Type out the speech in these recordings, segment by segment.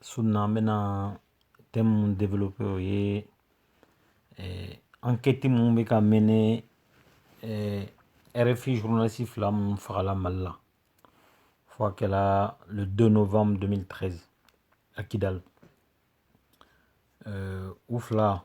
su in na an bɛna thème minnu develope o ye ankɛti minnu bɛ ka mene rfi journaliste fila minnu fagala mali la fo a kɛla le 2 novembre 2013 à kidal u fila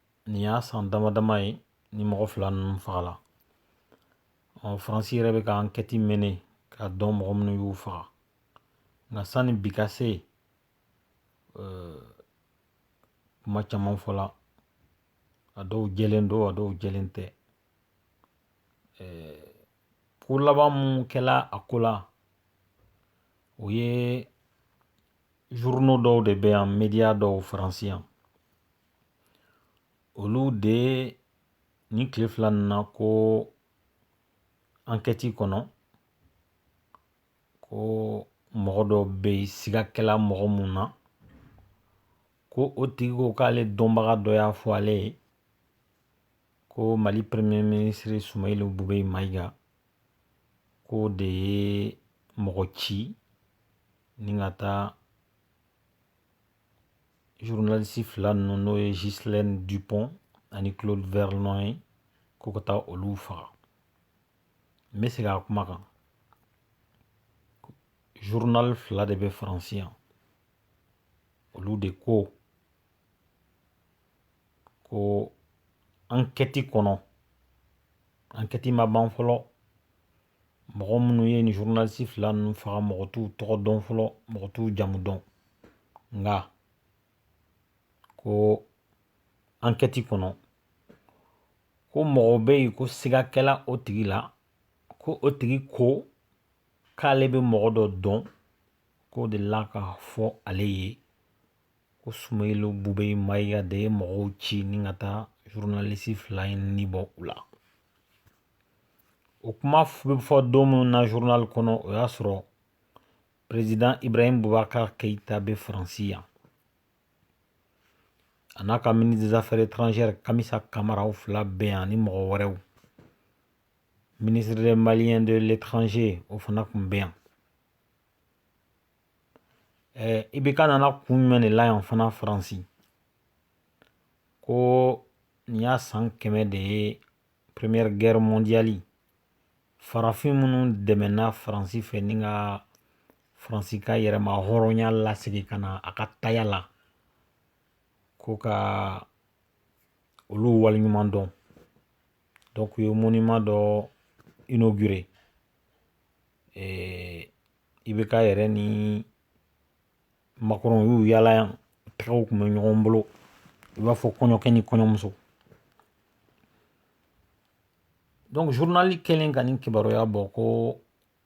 nin y'a san dama dama ye ni mɔgɔ fila ninnu fagala ɔ faransi yɛrɛ bɛ ka ankɛti mene k'a dɔn mɔgɔ minnu y'u faga nka sanni bi ka se kuma caman fɔla a dɔw jɛlen don a dɔw jɛlen tɛ ko laban minnu kɛla a ko la o ye journaux dɔw de bɛ yan media dɔw faransi yan olu de nin tile fila in na ko ankɛti kɔnɔ ko mɔgɔ dɔ bɛ yen siga kɛla mɔgɔ mun na ko o tigi ko k'ale dɔnbaga dɔ y'a fɔ ale ye ko mali premier minisiri sumayilu bubeyi mayiga k'o de ye mɔgɔ ci ni ka taa zurunalisi fila ninnu n'o ye ghislaine dupont ani claude verlon ye ko ka taa olu faga n bɛ segin a kuma kan zurunali fila de bɛ faransi yan olu de ko ko ankɛti kɔnɔ ankɛti ma ban fɔlɔ mɔgɔ minnu ye nin zurunalisi fila ninnu faga mɔgɔ t'u tɔgɔ dɔn fɔlɔ mɔgɔ t'u jamu dɔn nka ko ankɛti kɔnɔ ko mɔgɔ bɛ yen ko siga kɛla o tigi la ko o tigi ko k'ale bɛ mɔgɔ dɔ dɔn k'o dela k'a fɔ ale ye ko sumayilu bubeyi mayiga de ye mɔgɔw ci ni ka taa zurunalisi fila in ni bɔ u la o kuma bɛ fɔ don minnu na zurunali kɔnɔ o y'a sɔrɔ perezidan ibrahimu bubakari keyita bɛ faransi yan a n'a ka ministre des affaires étrangères kamisa kamara u fila bɛ yan ni mɔgɔ wɛrɛw ministre des maliens de l'étranger o fana tun bɛ yan ibeka nana kun jumɛn de la yan fana faransi ko nin y'a san kɛmɛ de ye première guerre mondiale farafin minnu dɛmɛna faransi fɛ ni ka faransi ka yɛrɛmahɔrɔnya lasegin ka na a ka taya la ko ka olu waleɲuman dɔn donc u ye monument dɔ inauguré eh, ibeka yɛrɛ ni makɔrɔn y'u yala yan tɛgɛw tun bɛ ɲɔgɔn bolo i b'a fɔ kɔɲɔkɛ ni kɔɲɔmuso donc journali kɛlen ka nin kibaruya bɔ ko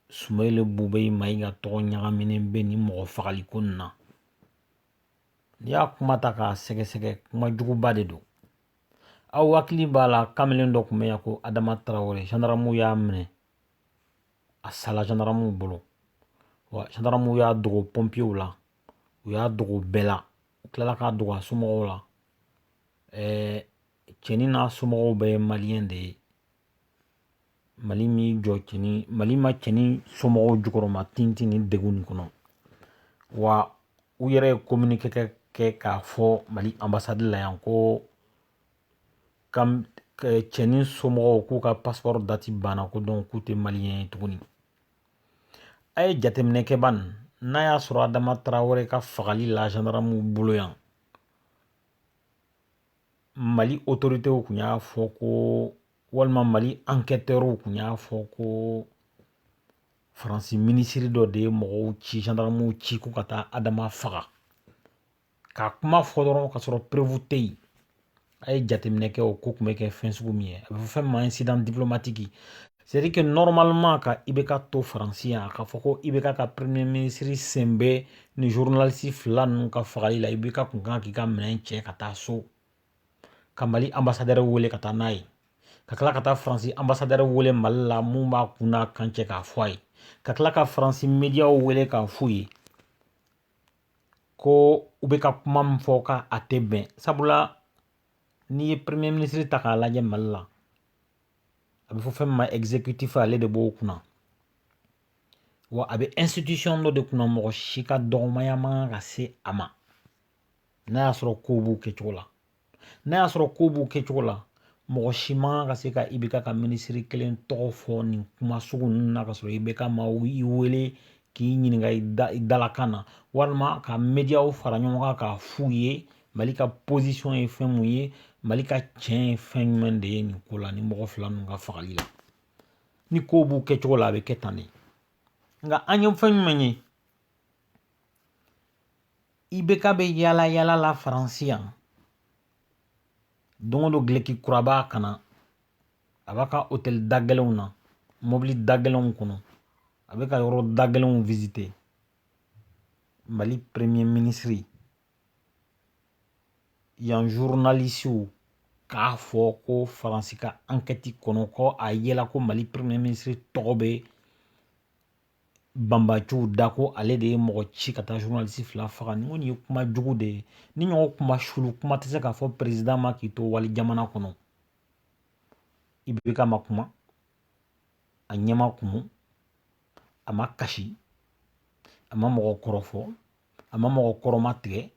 sumeyilu bubeyi mayiga tɔgɔ ɲagaminen bɛ nin mɔgɔ fagali ko nin na n'i y'a kuma ta k'a sɛgɛsɛgɛ kuma juguba de don aw hakili b'a la kamalen dɔ tun bɛ yan ko adama tarawele zandaramuw y'a minɛ a sala zandaramuw bolo wa zandaramuw y'a dogo pɔnpiyew la u y'a dogo bɛɛ la u tilala k'a dogo a somɔgɔw la ɛɛ cɛnin n'a somɔgɔw bɛɛ ye maliyɛn de ye mali m'i jɔ cɛnin mali ma cɛnin somɔgɔw jukɔrɔma tintin ni degun nin kɔnɔ wa u yɛrɛ ye kominike kɛ k'a fɔ mali anbasadi la yan ko ka cɛnin somɔgɔw k'u ka paspɔrɔ dati banna ko donc u tɛ maliyɛn ye tuguni a ye jateminɛ kɛ ban n'a y'a sɔrɔ adama tarawele ka fagali la zandaramuw bolo yan mali otoritew tun y'a fɔ ko walima mali ankɛtɛriw tun y'a fɔ ko faransi minisiri dɔ de ye mɔgɔw ci zandaramuw ci k'u ka taa adama faga ka kuma fɔ dɔrɔn k'a sɔrɔ preuve tɛ yen a ye jateminɛ kɛ o ko tun bɛ kɛ fɛn sugu min ye a bɛ fɔ fɛn ma insidan diplomatiki c'est-à-dire que normalement ka ibeka to faransi yan k'a fɔ ko ibeka ka peremiye minisiri sen bɛ nin zurunalisi fila ninnu ka fagali la ibeka tun ka kan k'i ka minɛn cɛ ka taa so ka mali anbasadɛrɛ wele ka taa n'a ye ka tila ka taa faransi anbasadɛrɛ wele mali la min b'a kun n'a kan cɛ k'a fɔ a ye ka tila ka faransi mediyaw wele k'a f'u ye ko u bɛ ka kuma min fɔ ko a tɛ bɛn sabula n'i ye premier ministre ta k'a lajɛ mali la a bɛ fɔ fɛn min ma exécutif ale de b'o kunna wa a bɛ institution dɔ de kunna mɔgɔ si ka dɔgɔmaya man kan ka se a ma n'a y'a sɔrɔ kow b'u kɛcogo la n'a y'a sɔrɔ kow b'u kɛcogo la mɔgɔ si man ka se ka IBK ka minisiri kelen tɔgɔ fɔ nin kuma sugu ninnu na ka sɔrɔ IBK ma i wele k'i ɲininka i dalakan na walima ka mediyaw fara ɲɔgɔn kan k'a f'u ye mali ka pozisɔn ye fɛn mun ye mali ka tiɲɛ ye fɛn jumɛn de ye nin ko la ni mɔgɔ fila ninnu ka fagali la ni kow b'u kɛcogo la a bɛ kɛ tan de nka an ye fɛn jumɛn ye IBK bɛ yaala yaala la Faransi yan don o don dulɔki kura b'a kan na a b'a ka hôtel da gɛlɛnw na mobili da gɛlɛnw kɔnɔ a bɛ ka yɔrɔ da gɛlɛnw visiter Mali premier ministre yan journalistew k'a fɔ ko Faransi ka enquête kɔnɔ ko a yela ko Mali premier ministre tɔgɔ bɛ banbaanciw da ko ale de ye mɔgɔ ci ka taa journaliste fila faga nin kɔni ye kuma jugu de ye nin ɲɔgɔn kuma sugu kuma tɛ se ka fɔ perezidan ma k'i to wali jamana kɔnɔ IBK ma kuma a ɲɛ ma kumu a ma kasi a ma mɔgɔ kɔrɔfɔ a ma mɔgɔ kɔrɔmatigɛ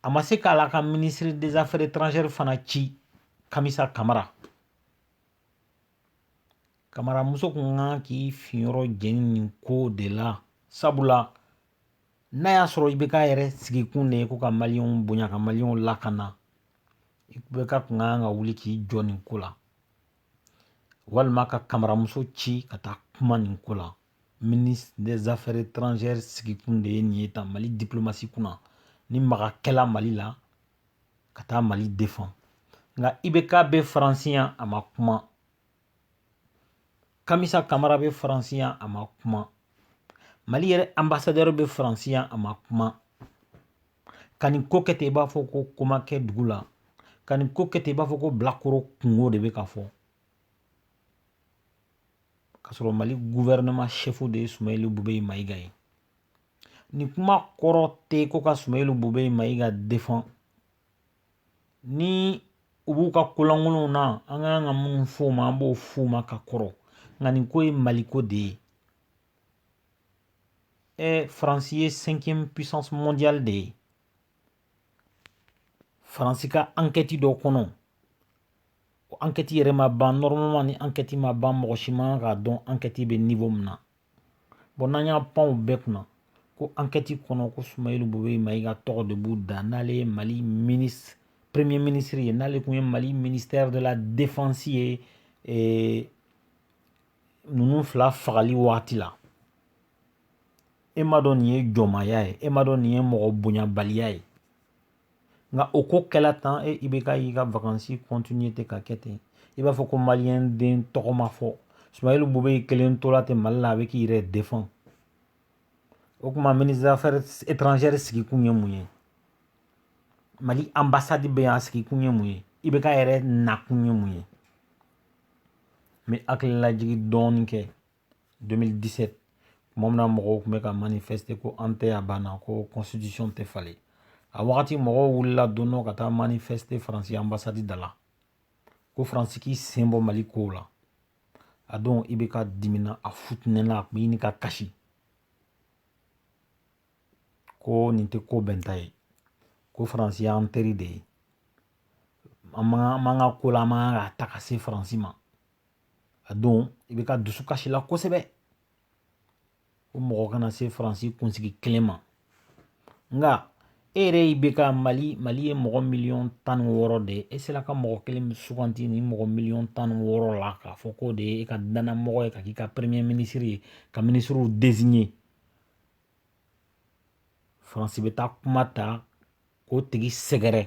a ma se k'ale ka minisiri des affaires étrangères fana ci kamisa kamara kamaramuso kun kan k'i finyɔrɔ jeni nin ko de la sabula n'a y'a sɔrɔ IBK yɛrɛ sigikun de ye ko ka maliyɛnw bonya ka maliyɛnw lakana IBK kun kan ka wuli k'i jɔ nin ko la walima ka kamaramuso ci ka taa kuma nin ko la ministre des affaires étrangères sigikun de ye nin ye tan mali diplomasi kunna ni maga kɛla mali la ka taa mali defan nka IBK bɛ faransi yan a ma kuma kamisa kamara bɛ faransi yan a ma kuma mali yɛrɛ anbasadɛri bɛ faransi yan a ma kuma ka nin ko kɛ ten i b'a fɔ ko ko ma kɛ dugu la ka nin ko kɛ ten i b'a fɔ ko bilakoro kunko de bɛ ka fɔ k'a sɔrɔ mali guvɛrɛnɛma sɛfu de ye sumayilu bubɛyi mayiga ye nin kuma kɔrɔ tɛ ko ka sumayilu bubɛyi mayiga defan ni u b'u ka ko lankolonw na an ka kan ka minnu fɔ u ma an b'o f'u ma ka kɔrɔ nka nin ko ye maliko de ye ɛ faransi ye cinquième puissance mondiale de ye faransi ka ankɛti dɔ kɔnɔ o ankɛti yɛrɛ ma ban normalement ni ankɛti ma ban mɔgɔ si man k'a dɔn ankɛti bɛ niwo min na bɔn n'an y'a pan u bɛɛ kunna ko ankɛti kɔnɔ ko sumayilu bubɛyi mayiga tɔgɔ de b'u da n'ale ye mali minisiri premier minisiri ye n'ale tun ye mali minisitɛri de la defansi ye eh, ninnu fila fagali wagati la e m'a dɔn nin ye jɔnmaya ye e m'a dɔn nin ye mɔgɔ bonyabaliya ye nka o ko kɛla tan e IBK y'i ka vakansi kɔntinye ten ka kɛ ten i b'a fɔ ko maliyɛn den tɔgɔ ma fɔ sumayɛli bubeyi kelen tola ten mali la a bɛ k'i yɛrɛ defan o tuma ministre des affaires étrangères sigikun ye mun ye mali ambassade bɛ yan a sigikun ye mun ye IBK yɛrɛ nakun ye mun ye n bɛ hakililajigi dɔɔnin kɛ 2017 tuma min na mɔgɔw tun bɛ ka manifeste ko an tɛ a banna ko constitution tɛ falen a wagati mɔgɔw wulila don dɔ ka taa manifeste faransi ambasadi da la ko faransi k'i sen bɔ mali kow la a don IBK dimina a futinɛna a tun bɛ ɲini ka kasi ko nin tɛ ko bɛnta ye ko faransi y'an teri de ye an man kan ko la an man kan ka taa ka se faransi ma a don IBK dusukasila kosɛbɛ ko mɔgɔ kana se faransi kunsigi kelen ma nka e yɛrɛ IBK mali mali ye mɔgɔ miliyɔn tan ni wɔɔrɔ de ye e sera ka mɔgɔ kelen min suganti ni mɔgɔ miliyɔn tan ni wɔɔrɔ la k'a fɔ k'o de ye e ka dannamɔgɔ ye ka k'i ka peremeye minisiri ye ka minisiriw deziɲe faransi bɛ taa kuma ta k'o tigi sɛgɛrɛ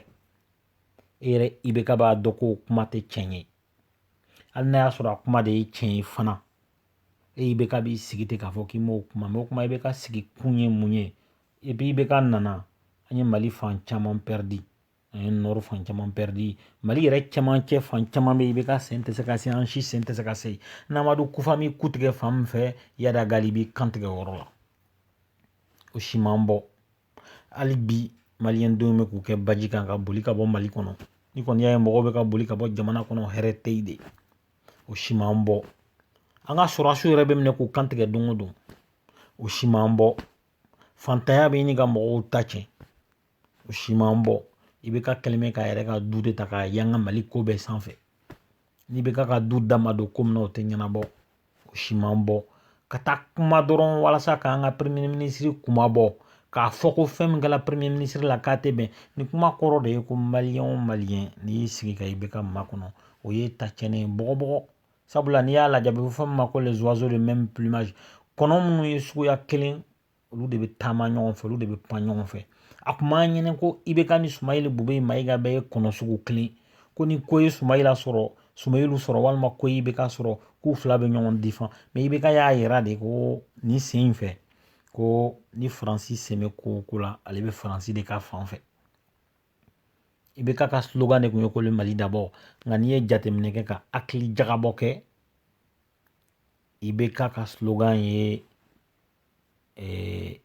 e yɛrɛ IBK b'a dɔn ko kuma tɛ tiɲɛ ye hali n'a y'a sɔrɔ a kuma de ye tiɲɛ ye fana IBK b'i sigi ten k'a fɔ k'i m'o kuma mɛn o kuma IBK sigikun ye mun ye IBK nana an ye mali fan caman pɛridi an ye nɔri fan caman pɛridi mali yɛrɛ caman cɛ fan caman bɛ IBK sen tɛ se ka se an si sen tɛ se ka se n'amadu kufa m'i kun tigɛ fan min fɛ iyad ag ghali b'i kantigɛ yɔrɔ la o si man bɔ Hali bi maliyɛn dɔw bɛ k'u kɛ baji kan ka boli ka bɔ mali kɔnɔ ni kɔni y'a ye mɔgɔw bɛ ka boli ka bɔ jamana kɔnɔ hɛrɛ tɛ yen de o si man bɔ an ka sɔrɔdasiw yɛrɛ bɛ minɛ k'u kantigɛ don o don o si man bɔ faantanya bɛ ɲini ka mɔgɔw ta cɛn o si man bɔ IBK kɛlen bɛ k'a yɛrɛ ka du de ta k'a yanga mali ko bɛɛ sanfɛ ni IBK ka du da ma don ko min na o tɛ ɲɛnabɔ o si man bɔ ka taa kuma dɔrɔn walasa k'an ka premier ministre kuma bɔ k'a fɔ ko fɛn min kɛra premier ministre la k'a tɛ bɛn nin kuma kɔrɔ de ye ko maliyɛn o maliyɛn n'i y'i sigi ka IBK makɔnɔ o ye tan cɛnni ye bɔgɔbɔgɔ sabula n'i y'a lajɛ a bɛ fɔ min ma ko les oiseaux de même plumage kɔnɔ minnu ye suguya kelen olu de bɛ taama ɲɔgɔn fɛ olu de bɛ pan ɲɔgɔn fɛ a kun b'a ɲini ko IBK ni sumayɛli bubeyi mayiga bɛɛ ye kɔnɔ sugu kelen ko ni ko ye sumayila sɔrɔ sumayilu sɔrɔ walima ko ye IBK sɔrɔ k'u fila bɛ ɲɔgɔn defan mɛ IBK y'a yira de ko nin sen in fɛ ko ni faransi sen bɛ ko o ko la ale bɛ faransi de ka fan fɛ IBK ka slogan de tun ye ko mali d'abord nka n'i ye jateminɛ kɛ ka hakili jagabɔ kɛ IBK ka slogan ye eh,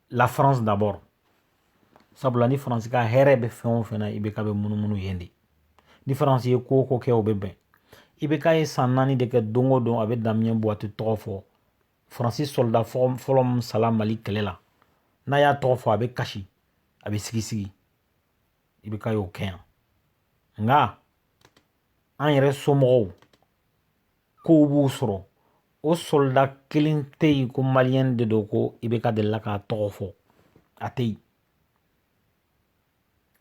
la France d'abord sabula ni faransi ka hɛrɛ bɛ fɛn o fɛn na IBK bɛ munumunu yen de ni faransi ye ko o ko kɛ o bɛ bɛn IBK ye san naani de kɛ don o don a bɛ Damien Boiteux tɔgɔ fɔ faransi soldat fɔlɔ min sala mali kɛlɛ la n'a y'a tɔgɔ fɔ a bɛ kasi a bɛ sigisigi IBK ye o kɛ yan nka an yɛrɛ somɔgɔw kow b'u sɔrɔ o soldat kelen tɛ yen ko maliyɛn de don ko IBK delila k'a tɔgɔ fɔ a tɛ yen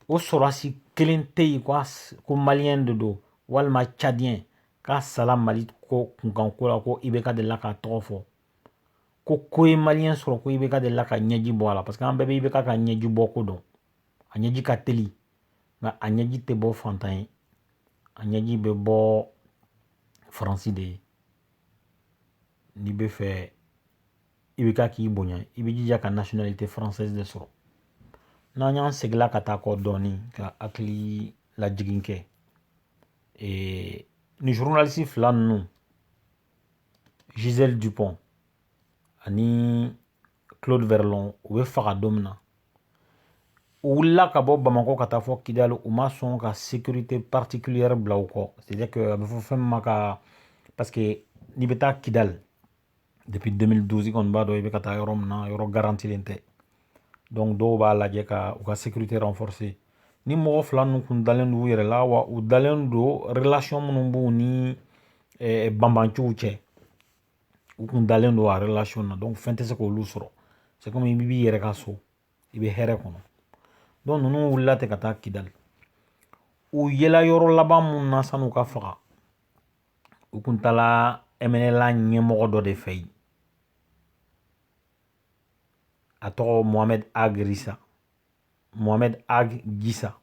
o sɔrɔdasi kelen tɛ yen ko maliyɛn de don walima cadiyɛn k'a sala mali ko kunkan ko la ko IBK delila k'a tɔgɔ fɔ ko ko ye maliyɛn sɔrɔ ko IBK delila ka ɲɛji bɔ a la parce que an bɛɛ bɛ IBK ka ɲɛji bɔ ko dɔn a ɲɛji ka teli nka a ɲɛji tɛ bɔ fantan ye a ɲɛji bɛ bɔ faransi de ye n'i b'a fɛ IBK k'i bonya i b'i jija ka nationalité française de sɔrɔ n'an y'an seginla ka taa kɔ dɔɔnin ka hakili lajigin kɛ ee ni journaliste fila ninnu Gisèle Dupont ani claude verlon u bɛ faga don min na u wulila ka bɔ bamakɔ ka taa fɔ kidali u ma sɔn ka sécurité particulière bila u kɔ c'est à dire que a bɛ fɔ fɛn min ma ka parce que n'i bɛ taa kidali depuis 2012 kɔni i b'a dɔn i bɛ ka taa yɔrɔ min na yɔrɔ garantilen tɛ donc dɔw b'a lajɛ ka u ka sécurité renforcer ni mɔgɔ fila ninnu kun dalen don u yɛrɛ la wa u dalen don relation minnu b'u ni eh, banbanciw cɛ u kun dalen don a relation na donc fɛn tɛ se k'olu sɔrɔ c'est comme i b'i yɛrɛ ka so i bɛ hɛrɛ kɔnɔ donc ninnu wulila ten ka taa kidali u yela yɔrɔ laban mun na san'u ka faga u kun taala mnla ɲɛmɔgɔ dɔ de fɛ yen a tɔgɔ mohamed ag risa mohamed ag gisa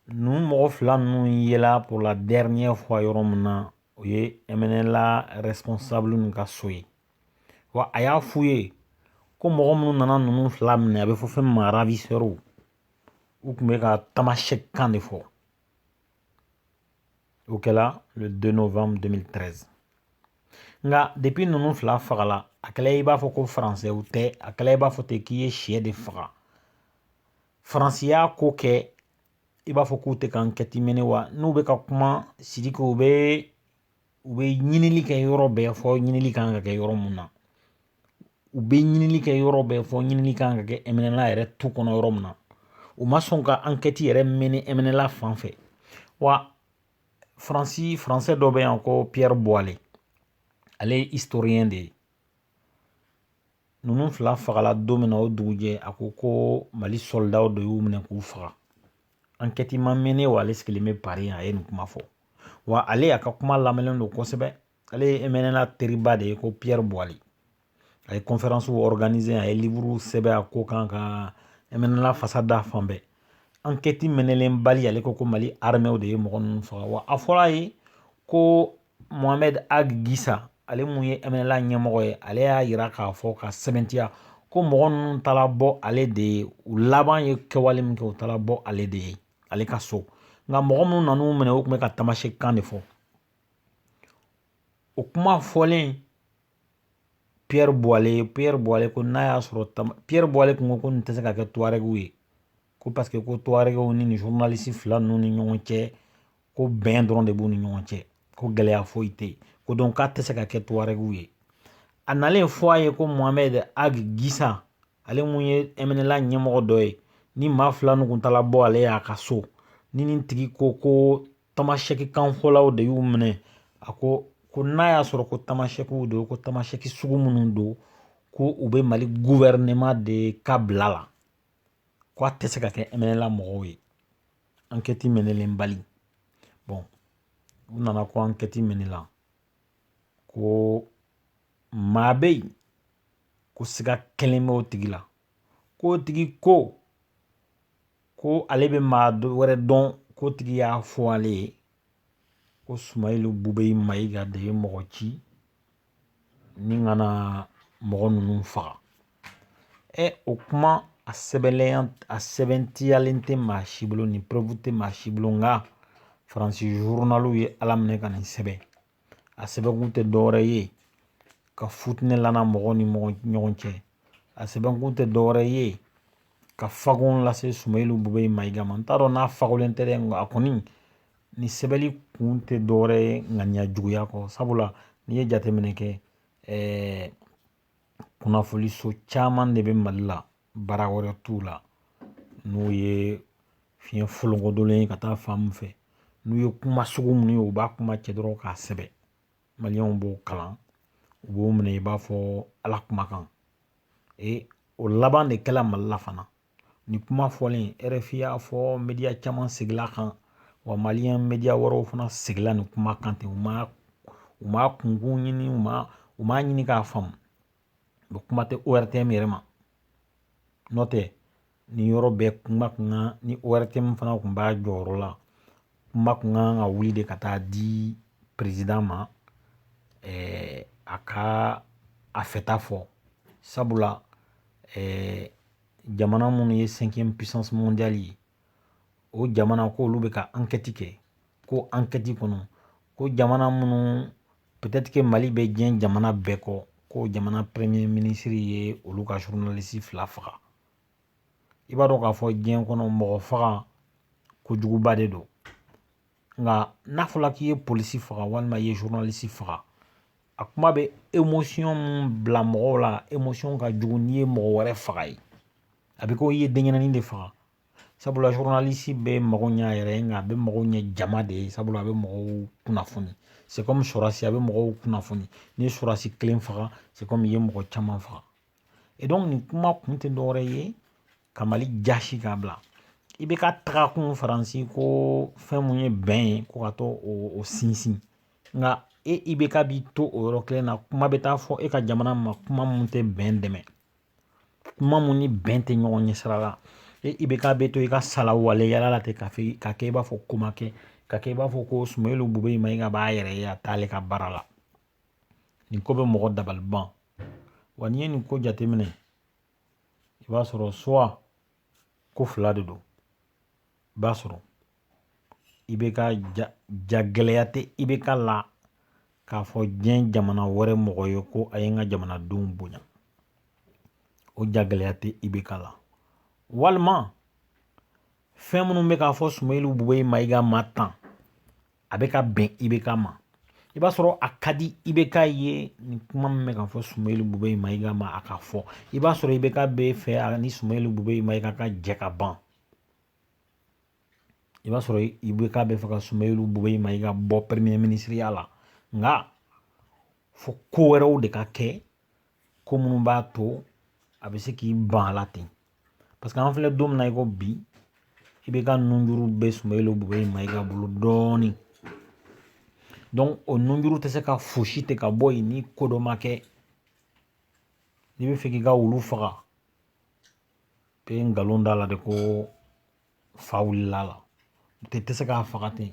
ninnu mɔgɔ fila ninnu yela pour la dernière fois yɔrɔ min na o ye mnla responsable ninnu ka so ye wa a y'a f'u ye ko mɔgɔ minnu nana ninnu fila minɛ a bɛ fɔ fɛn ma ravisseurs u tun bɛ ka tamasheq kan de fɔ o kɛla le 2 novembre 2013 nka depuis ninnu fila fagala a kɛla i b'a fɔ ko faransɛw tɛ a kɛla i b'a fɔ ten k'i ye sɛ de faga faransi y'a ko kɛ i b'a fɔ k'u tɛ ka enquête mener wa n'u bɛ ka kuma siriki u bɛ u bɛ ɲinili kɛ yɔrɔ bɛɛ fɔ ɲinili kan ka kɛ yɔrɔ mun na u bɛ ɲinili kɛ yɔrɔ bɛɛ fɔ ɲinili kan ka kɛ mnla yɛrɛ tu kɔnɔ yɔrɔ min na u ma sɔn ka enquête yɛrɛ mener mnla fan fɛ wa faransi faransɛ dɔ bɛ yan ko Pierre Boilley ale ye historien de ye ninnu fila fagala don min na o dugujɛ a ko ko mali sɔlidaw de y'u minɛ k'u faga ankɛti ma mene wa ale sigilen bɛ pari a ye nin kuma fɔ wa ale y'a ka kuma lamɛnnen don kosɛbɛ ale ye mnla teriba de ye ko pierre boilley a ye kɔnfɛransiw ɔrɔganize a ye liburu sɛbɛn a ko kan ka mnla fasa da fan bɛɛ ankɛti menelenbali ale ko ko mali armɛw de ye mɔgɔ ninnu faga wa a fɔra a ye ko mohamɛd ag gisa ale mun ye mnla ɲɛmɔgɔ ye ale y'a jira k'a fɔ ka sɛmɛntiya ko mɔgɔ ninnu taara bɔ ale de ye u laban ye kɛwale min kɛ u taara bɔ ale de ye ale ka so nka mɔgɔ minnu nan'u minɛ u tun bɛ ka tamasɛki kan de fɔ o kuma fɔlen pierre boilley pierre boilley ko n'a y'a sɔrɔ pierre boilley kun ko ko nin tɛ se ka kɛ tuarɛgiw ye ko paseke ko tuaregew ni nin journaliste fila ninnu ni ɲɔgɔn cɛ ko bɛn dɔrɔn de b'u ni ɲɔgɔn cɛ ko gɛlɛya foyi tɛ yen ko donc k'a tɛ se ka kɛ tuaregew ye a nalen fɔ a ye ko mohamɛd ag gisa ale mun ye mnla ɲɛmɔgɔ dɔ ye nin maa fila nin kun taala bɔ ale y'a ka so ni nin tigi ko ko tamasɛki kanfɔlaw de y'u minɛ a ko ko n'a y'a sɔrɔ ko tamasɛkiw don ko tamasɛki sugu minnu don ko u bɛ mali guvɛrɛnema de ka bila la ko a tɛ se ka kɛ mnla mɔgɔw ye ankɛti menelenbali bɔn u nana ko ankɛti menela ko maa bɛ yen ko siga kɛlen bɛ o tigi la k'o tigi ko ko ale bɛ maa wɛrɛ dɔn k'o tigi y'a fɔ ale ye ko sumayilu bubɛyi mayiga de ye mɔgɔ ci ni ka na mɔgɔ ninnu faga ɛ o kuma a sɛbɛnlenya a sɛbɛntiyalen tɛ maa si bolo ni preuve tɛ maa si bolo nka faransi zurunaliw ye ala minɛ ka nin sɛbɛn a sɛbɛnkun tɛ dɔwɛrɛ ye ka futinɛ lana mɔgɔw ni ɲɔgɔn cɛ a sɛbɛnkun tɛ dɔwɛrɛ ye ka fagon lase sumayilu bubɛyi mayiga ma n t'a dɔn n'a fagolen tɛ dɛ nka a kɔni nin sɛbɛnli kun tɛ dɔwɛrɛ ye ŋaniya juguya kɔ sabula n'i ye jateminɛ kɛ kunnafoniso caman de bɛ mali la baara wɛrɛ t'u la n'u ye fiɲɛ folonkodolen ye ka taa fan min fɛ n'u ye kuma sugu minnu ye u b'a kuma cɛ dɔrɔn k'a sɛbɛn maliw b'o kalan u b'o minɛ i b'a fɔ ala kumakan ee o laban de kɛla mali la fana Nin kuma fɔlen RFI y'a fɔ media caman sigil'a kan wa maliyɛn media wɛrɛw fana sigila nin kuma kan ten u ma u ma kunkun ɲini u ma u m'a ɲini k'a faamu u kuma tɛ ORTM yɛrɛ ma n'o tɛ nin yɔrɔ bɛɛ kuma kun kan ni ORTM fana kun b'a jɔyɔrɔ la kuma kun kan ka wuli de ka taa di peresidan ma ɛɛ a ka a fɛta fɔ sabula ɛɛ jamana minnu ye sɛnkiyɛmu pisansi mɔndiyali ye o jamana ko olu bɛ ka ankɛti kɛ ko ankɛti kɔnɔ ko jamana minnu pɛtɛtiri ke mali bɛ diɲɛ jamana bɛɛ kɔ ko jamana premye minisiri ye olu ka zurunalisi fila faga i b'a dɔn k'a fɔ diɲɛ kɔnɔ mɔgɔ faga kojuguba de don nka n'a fɔra k'i ye polisi faga walima i ye zurunalisi faga a kuma bɛ emosiyɔn bila mɔgɔw la emosiyɔn ka jugu n'i ye mɔgɔ wɛrɛ faga ye a bɛ ko i ye denyɛrɛnin de faga sabula zurunalisi tɛ mago ɲɛ a yɛrɛ ye nka a bɛ mago ɲɛ jama de ye sabula a bɛ mɔgɔw kunnafoni se kɔmi sɔrɔsi a bɛ mɔgɔw kunnafoni ni sɔrɔsi kelen faga se kɔmi i ye mɔgɔ caman faga e dɔn nin kuma kun tɛ dɔwɛrɛ ye ka mali jasi k'a bila IBK taga kun faransi ko fɛn mun ye bɛn ye ko ka taa o sinsin nka e IBK bi to o yɔrɔ kelen na kuma bɛ taa fɔ e ka jamana ma kuma mun tɛ bɛn dɛmɛ kuma mun ni bɛn tɛ ɲɔgɔn ɲɛ sira la e IBK bɛ to i ka sala waleyala la ten k'a fɛ k'a kɛ i b'a fɔ ko ma kɛ k'a kɛ i b'a fɔ ko sumeyilu bubeyi mayiga b'a yɛrɛ ye a t'ale ka baara la nin ko bɛ mɔgɔ dabali ban wa n'i ye nin ko jateminɛ i b'a sɔrɔ suwa ko fila de don i b'a sɔrɔ IBK jagɛlɛya tɛ IBK la k'a fɔ diɲɛ jamana wɛrɛ mɔgɔ ye ko a ye n ka jamanadenw bonya o jagɛlɛya tɛ IBK la walima fɛn minnu bɛ ka fɔ sumeyilu bubeyi mayiga ma tan a bɛ ka bɛn IBK ma i b'a sɔrɔ a ka di IBK ye nin kuma min bɛ ka fɔ sumeyilu bubeyi mayiga ma a ka fɔ i b'a sɔrɔ IBK b'a fɛ a ni sumeyilu bubeyi mayiga ka jɛ ka ban i b'a sɔrɔ IBK b'a fɛ ka sumeyilu bubeyi mayiga bɔ premier minisiriya la nka fo ko wɛrɛw de ka kɛ ko minnu b'a to a bɛ se k'i ban a la ten paseke an filɛ don min na i ko bi IBK nunjuru bɛ sumeyilu bubeyi mayiga bolo dɔɔnin dɔnki o nunjuru tɛ se ka foosi ten ka bɔ yen ni ko dɔ ma kɛ n'i b'a fɛ k'i ka wulu faga i bɛ nkalon d'a la de ko fa wulil'a la tɛ tɛ se k'a faga ten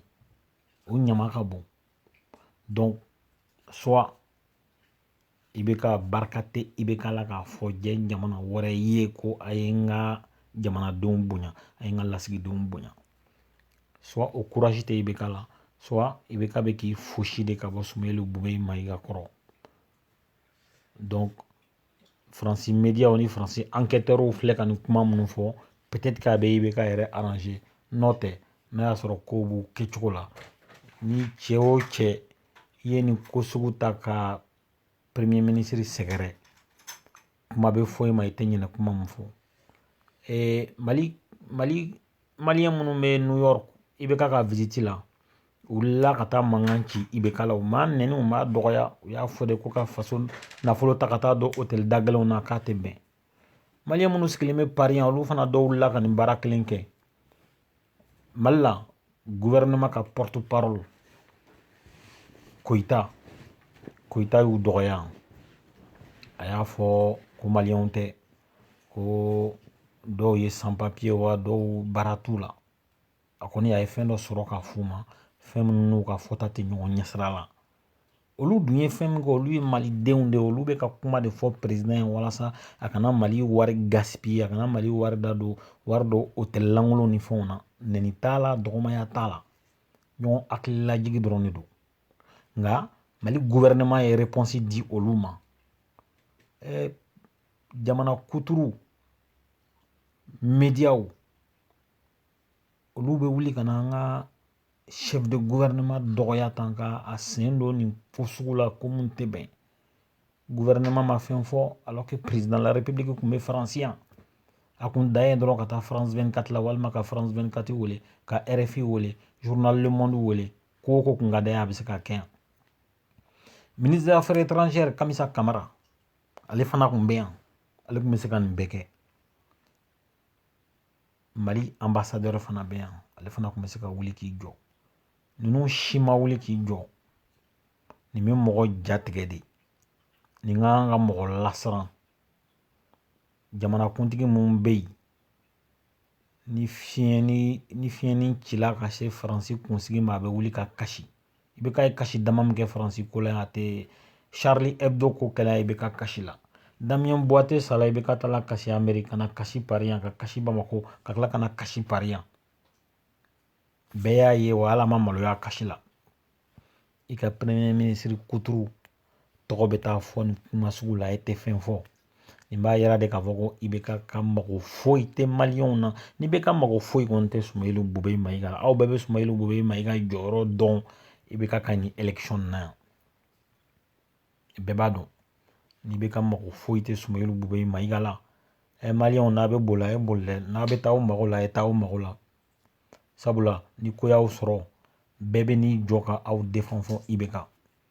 o ɲama ka bon soit ibeka barika tɛ ibeka la k'a fɔ diɲɛ jamana wɛrɛ ye ko a ye n ka jamanadenw bonya a ye n ka lasigidenw bonya o kurasi tɛ ibeka la ibeka bɛ k'i fosi de ka bɔ sumeyilu bubɛyi mayiga kɔrɔ faransi mediyaw ni faransi ankɛtɛrw filɛ ka nin kuma minnu fɔ pɛtɛti k'a bɛ ibeka yɛrɛ aranze n'o tɛ n'a y'a sɔrɔ ko b'u kɛcogo la ni cɛ o cɛ i ye nin ko sugu ta ka premier ministre sɛgɛrɛ kuma bɛ fɔ i ma i tɛ ɲinɛ kuma min fɔ ee mali mali maliyɛn minnu bɛ new york ibeka ka visite la u wulila ka taa mankan ci ibeka la u m'a nɛni u m'a dɔgɔya u y'a fɔ de ko ka faso nafolo ta ka taa don hôtel da gɛlɛnw na k'a tɛ bɛn maliyɛn minnu sigilen bɛ paris yan olu fana dɔw wulila ka nin baara kelen kɛ mali la gouvernement ka porte parole koyita koyita y'u dɔgɔya a y'a fɔ ko maliyɛnw tɛ ko dɔw ye san papiye wa dɔw baara t'u la a kɔni a ye fɛn dɔ sɔrɔ k'a f'u ma fɛn minnu n'u ka fɔta tɛ ɲɔgɔn ɲɛsira la olu dun ye fɛn min kɛ olu ye malidenw de ye olu bɛ ka kuma de fɔ perezidan ye walasa a kana mali wari gaspiye a kana mali wari don hôtel lankolonw ni fɛnw na nɛni t'a la dɔgɔmaya t'a la ɲɔgɔn hakililajigi dɔrɔn de don nka mali guvɛrɛnɛma ye repɔnsi di olu ma ɛɛ jamana kuturu mediyaw olu bɛ wuli ka na an ka chef de gouvernement dɔgɔya tan ka a sen don nin ko sugu la ko mun tɛ bɛn gouvernement ma fɛn fɔ kun bɛ faransi yan a kun dan ye dɔrɔn ka taa faransi ka tila walima ka faransi kati wele ka wele wele ko ko kun ka da a bɛ se ka kɛ yan kamisa kamara ale fana kun bɛ yan ale tun bɛ se ka nin bɛɛ kɛ mali anbasadɛri fana bɛ yan ale fana tun bɛ se ka wuli k'i jɔ ninnu si ma wuli k'i jɔ nin bɛ mɔgɔ jatigɛ de nin ka kan ka mɔgɔ lasiran jamanakuntigi min bɛ yen ni fiɲɛnin cila ka se faransi kunsigi ma a bɛ wuli ka kasi ibeka ye kasi dama min kɛ faransi ko la a tɛ charlie hebdo ko kɛla ibeka kasila damien boiteux sala ibeka taala kasi ameri ka na kasi paris yan ka kasi bamako ka tila ka na kasi paris yan bɛɛ y'a ye wa ala ma maloya kasi la i ka premier minisiri kuturu tɔgɔ bɛ taa fɔ nin kuma sugu la e tɛ fɛn fɔ nin b'a yira de k'a fɔ ko IBK ka mago foyi tɛ maliyɛnw na n'IBK mago foyi kɔni tɛ sumayilu bube mayiga aw bɛɛ bɛ sumayilu bube mayiga jɔyɔrɔ dɔn IBK ka nin election na yan bɛɛ b'a dɔn n'IBK mago foyi tɛ sumayilu bube mayiga la ɛ maliyɛnw n'a bɛ boli a ye boli dɛ n'a bɛ taa aw mago la a ye taa aw mago la sabula ni ko y'aw sɔrɔ bɛɛ bɛ n'i jɔ ka aw defend fɔ IBK